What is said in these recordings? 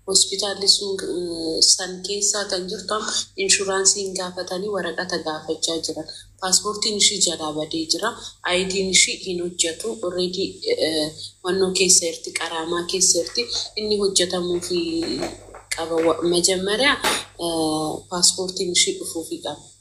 Hospitaalli sun san keessaa kan jirtu amma inshuraansii hin gaafatanii waraqata gaafachaa jiran. Paaspoortiin ishii jalaa badee jira. Ayidiin ishii hin hojjatu. Already wannoo keessa jirti, qaraamaa keessa jirti. Inni hojjatamuufii qaba. Wa- Majammariyaa paaspoortiin ishii dhufuufii qaba.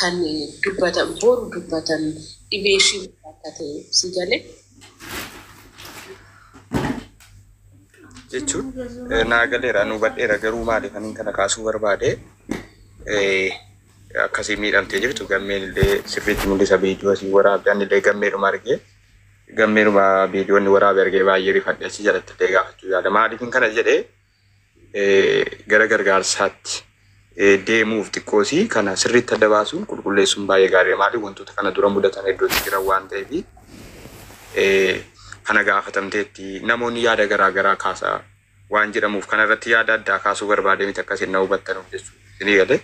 kan dubbatan boru dubbatan dhibee ishii maal akka ta'e si gale. jechuun eh, naa galeera nu badheera garuu maaliif anin kana kaasuu barbaade eh, akkasii miidhamtee jirtu gammeen illee sirriitti mul'isa viidiyoo asii waraabde ani illee gammeedhuma argee gammeedhuma viidiyoonni waraabe argee baay'ee rifadhe asii jalatti illee gaafachuu yaada maaliif kana jedhee gara gargaarsaatti deemuuf xiqqoosii kana sirriitti adda baasuun qulqulleessuun baay'ee gaariidha. Maaliif wantoota kana dura mudatan hedduutti jiran waan ta'eef kana gaafatamteetti namoonni yaada garaa garaa kaasaa waan jedhamuuf kana irratti yaada addaa kaasuu barbaadee miti akkasiin na hubattanuuf jechuudha. Isinii galee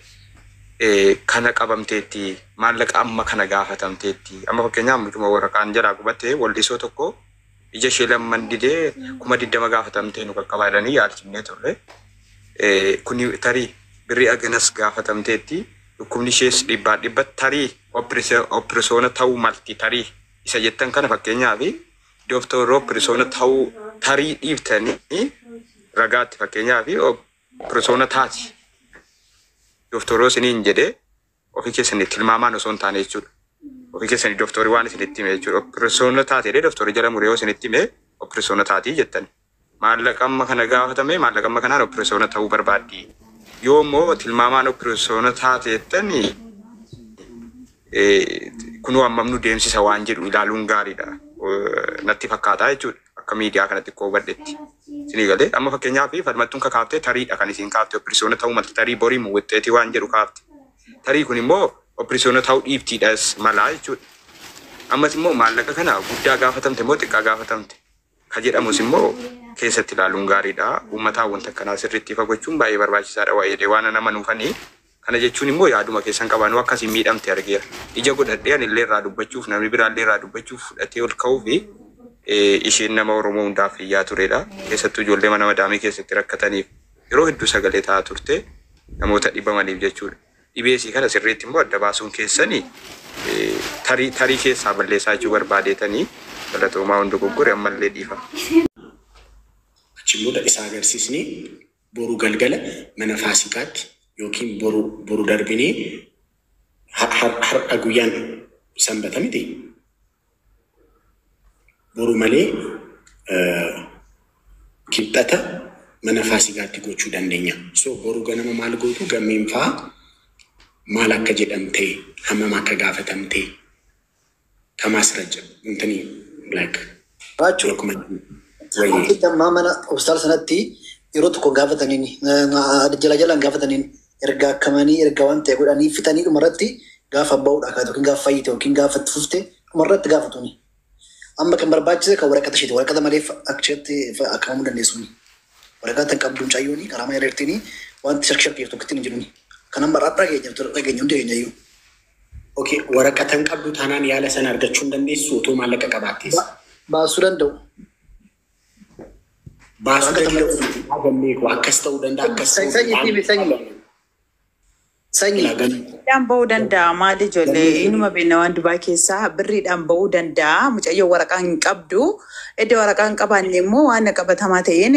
kana qabamteetti maallaqa amma kana gaafatamteetti amma fakkeenyaaf mucuma waraqaan jalaa gubattee waldhisoo tokko ija ishee lamman didee kuma digdama gaafatamtee nu qaqqabaa jedhanii yaalchifnee turre. Kun tarii birrii aganas gaafatamteetti. Dhukkubni ishees dhibbaan dhibba tarii opirisoona ta'uu malti tarii isa jettan kana fakkeenyaaf dooktorri opirisoona ta'uu tarii dhiiftanii ragaatti fakkeenyaaf opirisoona taati dooktorri isiniin jedhee ofii keessanii tilmaamaan osoo hin taane jechuudha. Ofii keessanii doktorii waan isinitti hime jechuudha. Operesoona taate jedhee doktorii jala muree yoo isinitti hime operesoona taatii jettani. Maallaqa amma kana gaafatame maallaqa amma kanaan operesoona ta'uu barbaaddi. Yoo immoo tilmaamaan operesoona taate jettani eh, kunoo hammam nu deemsisa waan jedhu ilaaluun gaariidha. Eh, Natti fakkaata jechuudha. akka miidiyaa kana xiqqoo hubadhetti isinii galee amma fakkeenyaaf falmattuun ka kaaftee tariidha kan isiin kaafte opereesyoona ta'uu malti tarii borii mu wixxeetii waan jedhu kaafte tarii kun immoo opereesyoona ta'uu dhiiftiidhas malaa jechuudha ammas immoo maallaqa kana guddaa gaafatamte immoo xiqqaa gaafatamte ka jedhamus immoo keessatti ilaaluun gaariidha uummataa wanta akkanaa sirriitti ifa gochuun baay'ee barbaachisaadha waa'eedha waan nama nuufanii Kana jechuun immoo yaaduma keessan qaba. Anuu akka isin miidhamte argeera. Ija godhadhee ani illee irraa dubbachuuf, namni biraa illee irraa dubbachuuf fudhatee ol ka'uu fi isheen nama Oromoo hundaaf iyyaa turedha. Keessattuu ijoollee mana madaamii keessatti rakkataniif yeroo hedduu sagalee ta'aa turte namoota dhibamaniif jechuudha. Dhibee isii kana sirriitti immoo adda baasuun keessani tarii tarii keessaa balleessaa jechuu barbaadeetanii galatoomaa waan dogoggore ammallee dhiifama. Achiin booda isa agarsiisnee Boru galgala mana faasikaatti yookiin boru boru darbinee ha- har- har'a guyyaan sanbata miti boru malee eh, kibxata mana faasikaatti gochuu dandeenya. So boru ganama maal gootu gammeen faa maal akka jedhamte hammam akka gaafatamte Tamaas Rajab intanii black Baachu. yeroo kuma wayyee Wanti ammaa mana hospitaala sanatti yeroo tokko gaafataniin jala jalaan gaafataniin erga akkamanii erga waan ta'e godhanii fixanii dhumarratti gaafa ba'uudha kaatu yookiin gaafa fayyite yookiin gaafa itti fufte dhumarratti gaafatuni. Amma kan barbaachise kan waraqata isheeti. Waraqata malee akshatti akkamamuu dandeessuuni. Waraqaa tan qabdu mucayyooni qaraamaa irreertiini wanti shakki shakki jirtu kittiin hin jiruni. Kan amma har'a dhageenya dhageenya hundi keenya iyyuu. Ok waraqata hin qabdu taanaan yaala sana argachuu hin dandeessu utuu maallaqa qabaattees. Baasuu danda'u. Baasuu Waraqata danda'u malee. miti. Haa galmee koo akkas ta'uu danda'a akkas ta'uu Sanyi danda'a. siimi sanyi. Sanyi. Ilaa galmee. Birriidhaan ba'uu danda'a maali ijoollee inuma beekna waan Dubaay keessaa birriidhaan ba'uu danda'a mucayyoo waraqaa hin qabdu edda waraqaa hin qabaanne immoo waan qabatamaa ta'een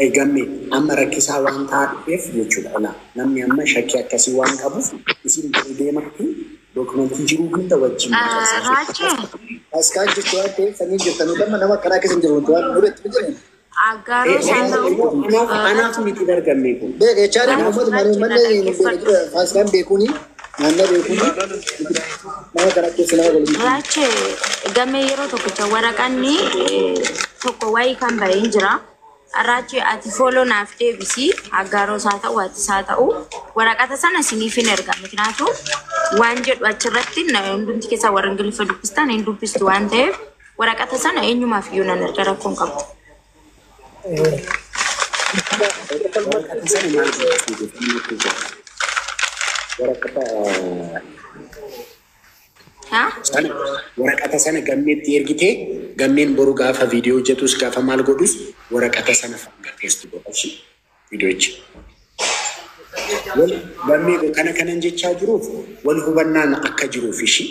Ay gamme amma rakkisaa waan ta'aa dhufeef jechuudha ola namni amma shakkii akkasii waan qabuuf isin bari deematti dookumentii jiruu hunda wajjin Raachee. Askaa jirtu waan ta'eef sanii jirtan damma nama akkanaa keessa hin jiru waan duretti hin jiru. Aggaaroo isaa Eenyu ta'uu immoo anaaf eh, anaaf achuma miti bargammee kun. Beek echaadha Ati uummata achuma malee achuma uummanni nuti dhaggeeffadhu. dura faaskaan beekuuni naannoo beekuuni nama kana keessa nama waliin jiru. Raache gamee yeroo tokkicha waraqanni eh, tokko wayii kan bahee hin jira. Raache ati fooloo naaf deebisi aggaaroo isaa ta'u ati isaa ta'u waraqata sana isiniif hin erga mikinaatu waan jedhu achirratti na- hundumti keessaa warra ingiliffa dubbistan hin dubbistu waan ta'eef Waraqata sana eenyumaaf iyyuu nan erga rakkoo hin qabu. Waraqata sana maal gochuuf jettanii natti himtu? Waraqata Haa? sana waraqata sana gammeetti ergitee gammeen boru gaafa viidiyoo hojjetus gaafa maal godhus waraqata sana hanga feestu godha ishii viidiyochi. Wal gammee koo kana kanan jechaa jiruuf wal hubannaan akka jiruuf ishii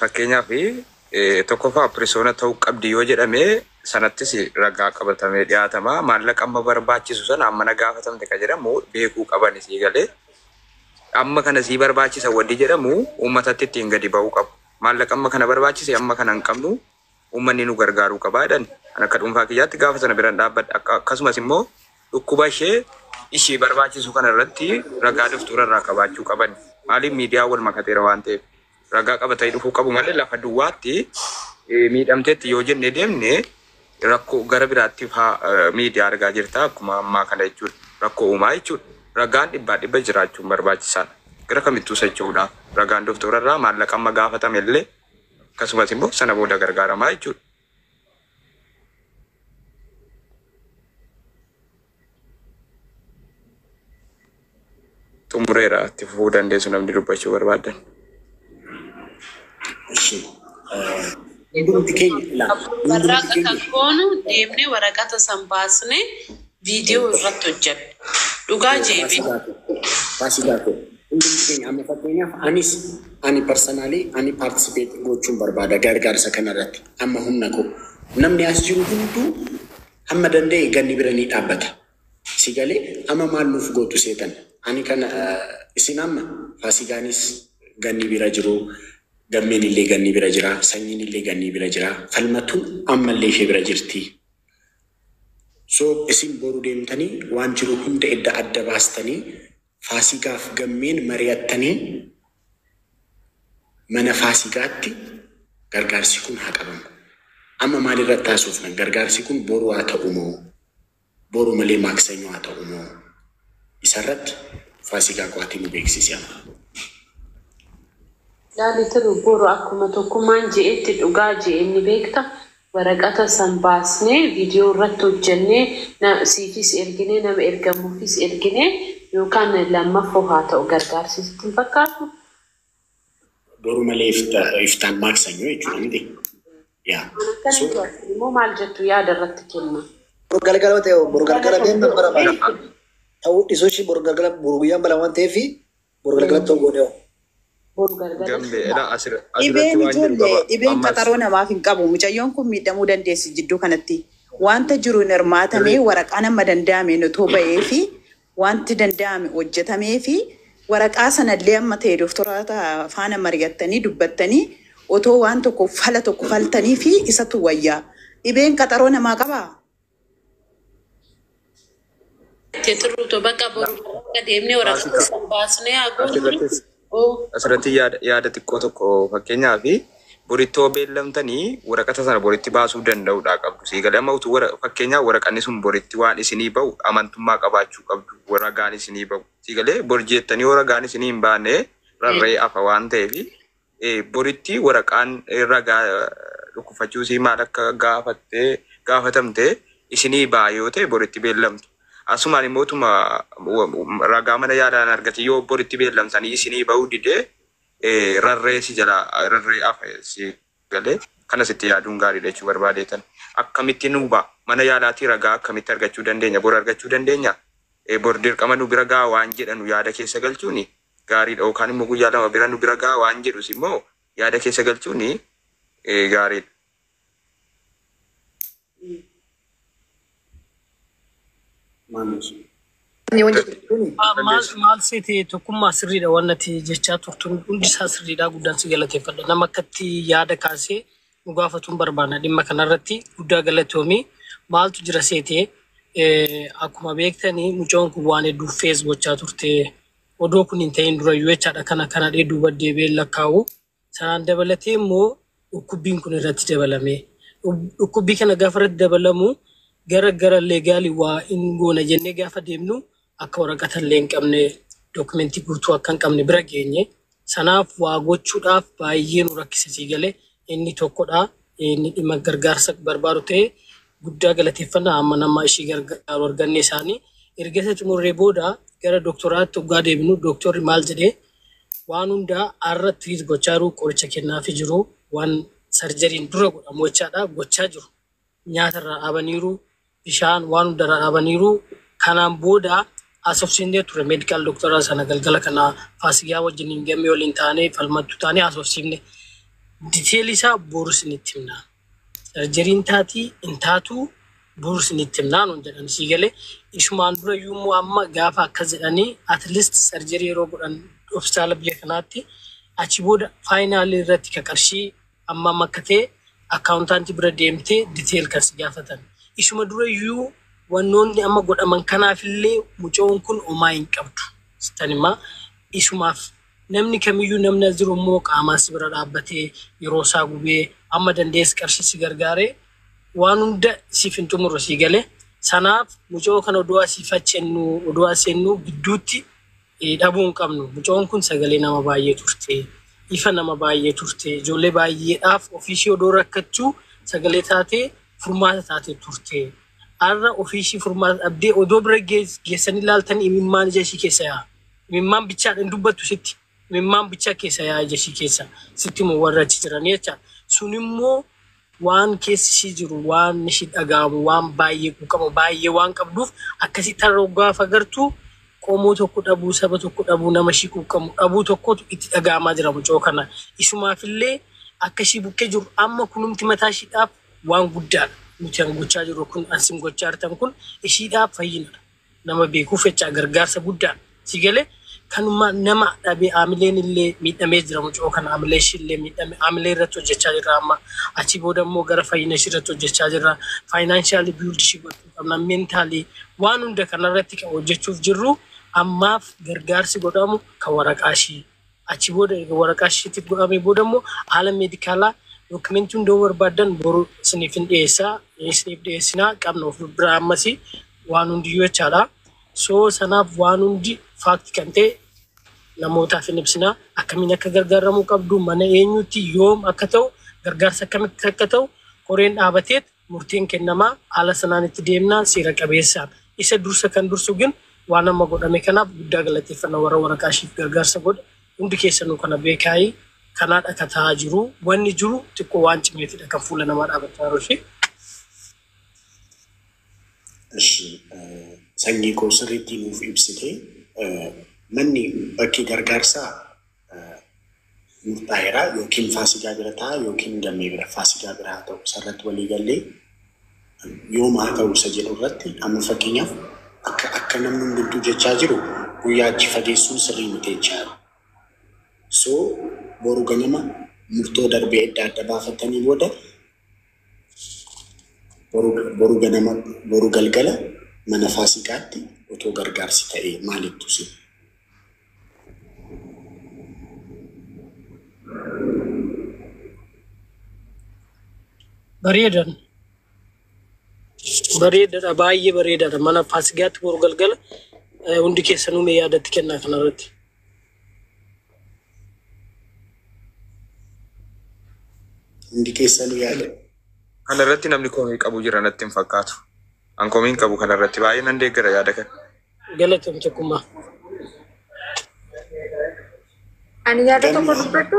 Fakkeenyaaf tokkoffaa pirisoona ta'uu qabdi yoo jedhame sanattis ragaa qabatamee dhiyaatama. Maallaqa amma barbaachisu sana amma na gaafatamte kan jedhamu beekuu qaban isii galee amma kana sii barbaachisa waddi jedhamu uummatatti ittiin gadi ba'uu qabu. Maallaqa amma kana barbaachise amma kana hin qabnu Uummanni nu gargaaruu qaba jedhani. An akka dhuunfaa kiyyaatti gaafa sana biran dhaabbadhe. Akka, akkasumas immoo dhukkuba ishee ishii barbaachisu kana irratti ragaa doftora irraa qabaachuu qaban. Maaliif miidiyaan wal makateera waan ta'eef. Ragaa qabatanii dhufuu qabu malee lafa duwwaatti eh, miidhamteetti yoo jennee deemne rakkoo gara biraattiif haa eh, miidiyaa argaa jirta akkuma ammaa kana jechuudha. Rakkoo uumaa jechuudha. Ragaan dhibbaa dhibba jiraachuun barbaachisaadha. Gara kamittuu socho'uudhaaf ragaan doftora irraa maallaqa amma gaafatame illee akkasumas immoo sana booda gargaaramaa jechuudha. Xumureera itti fufuu dandeessu namni dubbachuu barbaadan. Ishee. Hundumti keenya ilaa. Hundumti Warraaqqa keenya. kan goonu deemnee waraqata san baasnee viidiyoo irratti hojjenna. Dhugaa jeebi. Baasii baatee. Hundumti keenya amma fakkeenyaaf anis ani personally ani participate gochuun barbaada gargaarsa kana irratti amma humna koo namni as jiru hunduu hamma danda'e ganni bira ni dhaabbata si galee amma maal nuuf gootu seetan ani kana eh, isin amma faasigaanis ganni bira jiru gammeen illee ganni bira jira sanyiin illee ganni bira jira falmatuun ammallee ishee bira jirti So isin boru deemtanii waan jiru hunda edda adda baastanii Faasigaaf Gammeen mari'attanii mana Faasigaatti gargaarsi kun haa qabamu. Amma maal irratti haasofna? Gargaarsi kun boru haa ta'u moo? Boru malee maaksanyoo haa ta'u moo? Isarratti Faasigaa qo'atii nu beeksisi amma. Laali Tiruu, boru akkuma Tokkummaan je'etti dhugaa je'e ni beekta, Waraqata san baasnee video irratti hojjannee na siifis erginee nama ergamuufis erginee yookaan lammaffoo haa ta'u gargaarsi sitti hin fakkaatu? Boru malee ifta iftaan maaksanyoo jechuudha miti? Yaa. Waan akkana So, du'atti immoo maal jettu yaada irratti kenna. Boru galgala ta'e boru galgala deemna bara bara. Ta'uu dhisuu ishii boru galgala boru guyyaan bala waan ta'eef Boru galgalatti yoo goone hoo? Boru galgala Gambe ila sirba. asir Dhibeen asirratti waan jedhu ijoollee qaba. dhibeen Ammas qaxaroo namaaf hin qabu. Mucayyoon kun miidhamuu dandeessi jidduu kanatti. Wanta jiru hin hirmaatamee sirrii waraqaan amma danda'ame nutoo ba'ee fi wanti danda'ame hojjetamee fi waraqaa sanallee amma ta'e doktoroota faana mari'attanii dubbattanii otoo waan tokko fala tokko faltanii fi isatu wayyaa. Dhibeen qaxaroo namaa qabaa? Te tiruu to baqa boru akka deemnee waraqaa Faasika. keessan baasnee haa goonu. Asirrattis Oo, asirratti yaada, yaada xiqqoo tokko fakkeenyaa fi borittoo beellamtanii waraqata sana boritti baasuu danda'uudha qabdu. Sii galee amma utuu wara, fakkeenyaa waraqanni sun boritti waan isinii ba'u amantummaa qabaachuu qabdu. Warra ragaan isinii ba'u. Sii galee bor jeettanii yoo ragaan isinii hin baane rarra'ee hafa waan ta'eef boritti waraqaan ragaa dhukkufachuu isii maal akka gaafatte gaafatamte isinii ba'a yoo ta'e boritti beellamtu. Asumaan immoo tuma ragaa mana yaalaan argate yoo boritti beellamtanii isinii ba'uu didee rarree si jala rarree afa si galee kanas itti yaaduun gaariidha jechuu barbaadeetan. Akkamitti nuu ba'a mana yaalaatii ragaa akkamitti argachuu dandeenya bor argachuu dandeenya bor dirqama nu bira ga'a waan jedhanu yaada keessa galchuuni gaariidha yookaan immoo guyyaa lama bira nu bira ga'a waan jedhus immoo yaada keessa galchuun gaariidha. Maal seetee tokkummaa sirriidha waan nati jechaa turtun hundi isaa sirriidha guddaan si galateeffadha. Nama akkatti yaada kaasee nu gaafatuun barbaanna dhimma kanarratti guddaa galatoomii maaltu jira seetee akkuma beektanii mucoon kun waan hedduuf fees gochaa turte Odoo kun hin ta'iin dura UH dha kan akkan hadhee duuba deebi'ee hin lakkaa'u. Sanaan dabalatee immoo dhukkubbiin kun irratti dabalamee. Dhukkubbii kana gaafa irratti dabalamu gara gara leegaali waa hin goona jennee gaafa deemnu akka waraqata illee hin qabne dookumentii guutuu akka hin qabne bira geenye Sanaaf waa gochuudhaaf baay'ee nu rakkise sii galee inni tokkodha. Inni dhimma gargaarsa barbaadu ta'e guddaa galateeffanna amma nama ishii gargaaru arganne isaanii. Erga isa xumurree booda gara doktoraatti oggaa deebinu doktorri maal jedhe waan hundaa har'a treat gochaa jiru qoricha kennaafii jiru waan sarjariin dura godhamu jechaadha gochaa jiru. nyaata irraa dhaabaniiru, bishaan waan hunda irraa dhaabaniiru. Kanaan booda haasofsiifnee turre medical doctor sana galgala kana Faasigaa wajjiniin gammee waliin taanee falmattuu taanee haasofsiifne. Detail isaa boru isinitti himna. Sarjeriin taatii hin taatuu boru isinitti himna nuun jedhan sii galee. Ishumaan dura iyyuu immoo amma gaafa akkas jedhanii at least sarjerii yeroo godhan hospitaala biyya kanaatti achi booda faayinaalii irratti ka qarshii Ammam akka ta'e accountant bira deemtee detail kan si gaafatan. Isuma dura iyyuu wannoonni amma godhaman kanaaf illee mucayoon kun homaa hin qabdu sittan hima. Isumaaf namni kamiyyuu namni as jiru immoo qaamaan si bira dhaabbatee yeroo isaa gubee amma danda'es qarshii si gargaaree waan hunda siif hin xumurre sii gale. Sanaaf mucayoo kana odoo asiif achi ennuu odoo as ennuu gidduutti dhabuu hin qabnu. Mucoon kun sagalee nama baay'ee turte. Ifa nama baay'ee turte. Ijoollee baay'eedhaaf ofiishii odoo rakkachuu sagalee taatee furmaata taatee turte. Har'a ofiishii furmaata dhabdee odoo bira geess- geessanii laaltanii imimmaan ija ishii keessa yaa'a. Imimmaan bichaadha hin dubbattu sitti. Imimmaan bichaa keessa yaa'a ija ishii keessa. Sitti immoo warra achi jiranii jecha. Sun immoo Waan keessi ishii jiru, waan ishii dhaga'amu, waan baay'ee quuqama baay'ee waan qabduuf akkasii tarra yoo gaafa gartu qomoo tokko dhabuu, saba tokko dhabuu, nama ishii quuqqamu dhabuu tokkotu itti dhaga'amaa jira mucoo kana. Isumaaf illee akka ishii bukkee jirru amma kunumti mataa ishiidhaaf waan guddaadha. Nuti an gochaa jirru kun an sin gochaa jirtan kun ishiidhaaf fayyinadha. nama beekuu fechaa gargaarsa gudda si gale kanuma nama dhabe amileen illee miidhamee jira mucoo kana amilee ishii illee miidhame amilee irratti hojjechaa jirra amma achii booda immoo gara fayyina ishii irratti hojjechaa jirra financially build ishii gochuu qabna mentally waan hunda kana irratti kan hojjechuuf jirru ammaaf gargaarsi godhamu kan waraqaa ishii Achi booda erga waraqaa ishiitti godhamee booda immoo haala meedikaalaa dookimentii hunda yoo barbaaddan boru isiniif hin dhiyeessaa isiniif dhiyeessinaa qabna of biraa ammasii waan hundiyyuu jechaadha. So sanaaf waan hundi faakti kan ta'e namootaaf hin ibsinaa akkamiin akka gargaaramuu qabdu mana eenyuutti yoom akka ta'u gargaarsa akkamitti akka ta'u koreen dhaabateet murtiin kennama haala sanaan itti deemna seera qabeessaan isa dursa kan dursu gin waan amma godhame kanaaf guddaa galateeffanna warra waraqaa ishiif gargaarsa godhe hundi keessanuu kana beekaayii kanaadha ka ta'aa jiru wanni jiru xiqqoo waan cimeetidha kan fuula namaa dhaabataa yeroo ishee Ishi sanyii koo sirriitti nuuf ibsite manni bakki gargaarsaa murtaa'eera yookiin faasigaa bira ta'a yookiin gammee bira faasigaa bira haa ta'u isarratti walii gallee yooma haa ta'u isa jedhu irratti amma fakkeenyaaf akka akka namni hundumtuu jechaa jiru guyyaa achi fageessuun sirrii miti jechaa jiru. So boru ganama murtoo darbee adda adda baafatanii booda boru boru ganama boru galgala mana faasigaatti otoo gargaarsi ta'e maalittu si bareedan bareedadha baay'ee bareedadha mana faasigaatti boru galgala eh, hundi keessanuu mee yaadatti kennaa kanarratti Hundi keessan yaada. Kana irratti namni komii qabu jira natti hin fakkaatu. An komiin qabu kana irratti baay'ee nan deeggara yaada kana. Galatum tokkummaa. Ani yaada tokko dubbadhu.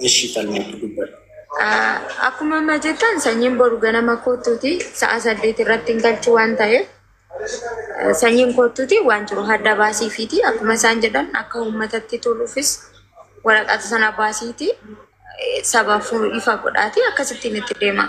Ishii falmii dubbadhu. Akkuma amma jettan sanyiin boru ganama kootuuti sa'a saddeet irratti hin galchu waan ta'eef sanyiin kootuuti waan jiru hadda baasiifiiti akkuma isaan jedhan akka uummatatti toluufis waraqata sana baasiiti sabaaf ifa godhaati akkasittiin itti deema.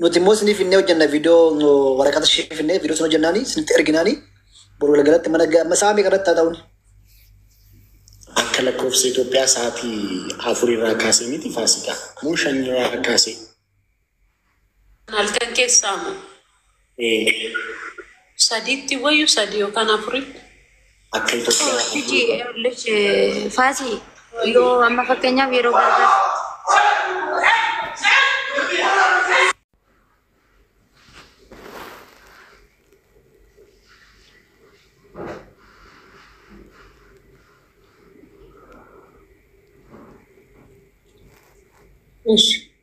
Nuti immoo isinii finnee hojjenna viidiyoo nu waraqata ishee finnee viidiyoo sun hojjennaani isinitti erginaani boru galgalatti mana ga- amma sa'a meeqa irratti haa ta'uun Akka lakkoofsa Itoophiyaa sa'aatii afur irraa kaasee miti faasikaa. Moo shan irraa kaasee. Halkan keessaa moo? Sadiitti wayyu sadii yookaan afuritti. Akka Itoophiyaa Hiji Erlish Faasii yoo amma fakkeenyaaf yeroo gargaar Ishi.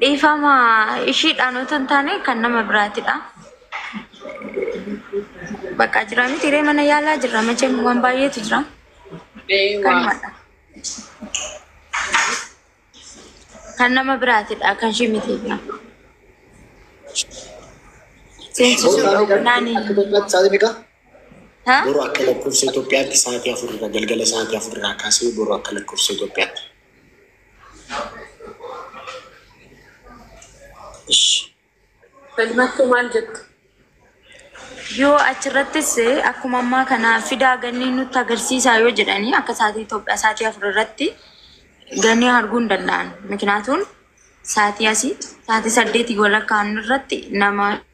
Dhiifama ishiidhaan otoo hin taane kan nama biraatidha. Bakka jira miti hiree mana yaalaa jirra macheen waan baay'eetu jira. Kanumadha. Kan nama biraatidha kan ishii miti. Seensisuudha ognaani. Akka Itoophiyaatti sa'aatii meeqa? Ha? Boru akka lakkoofsa Itoophiyaatti sa'aatii afur irraa galgala sa'aatii afur irraa kaasee boru akka lakkoofsa Itoophiyaatti. Falmattuu maal jettu? Yoo achirrattis akkuma ammaa kana fidaa gannii nutti agarsiisaa yoo jedhanii akka sa'aatii Itoophiyaa sa'aatii afur irratti gannii arguu hin danda'an. Mikinaatuun sa'aatii asii sa'aatii saddeetii walakkaan irratti nama